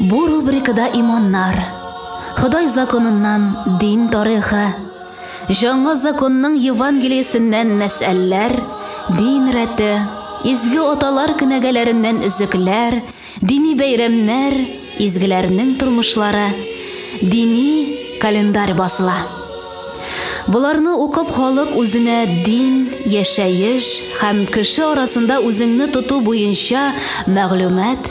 Бу рубрикада иманнар, Ходай законыннан дин тарихы, Җаңа законның Евангелиясеннән мәсьәләләр, дин рәте, изге аталар кенәгәләреннән өзекләр, дини бәйрәмнәр, изгеләрнең тормышлары, дини календарь басыла. Боларны укып халык үзенә дин, яшәеш һәм кеше арасында үзеңне тоту буенча мәгълүмат,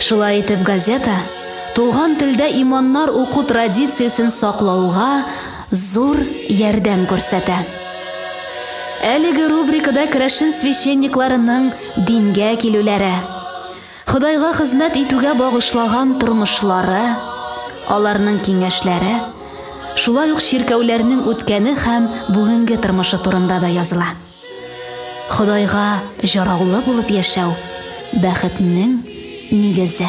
Шулай итеп газета туган телдә иманнар уку традициясен саклауга зур ярдәм күрсәтә. Әлеге рубрикада керәшен священникларының дингә килүләре, Ходайга хезмәт итүгә багышлаган тормышлары, аларның киңәшләре, шулай ук чиркәүләрнең үткәне һәм бүгенге тормышы турында да языла. Ходайга җараулы булып яшәү бәхетнең нигезе.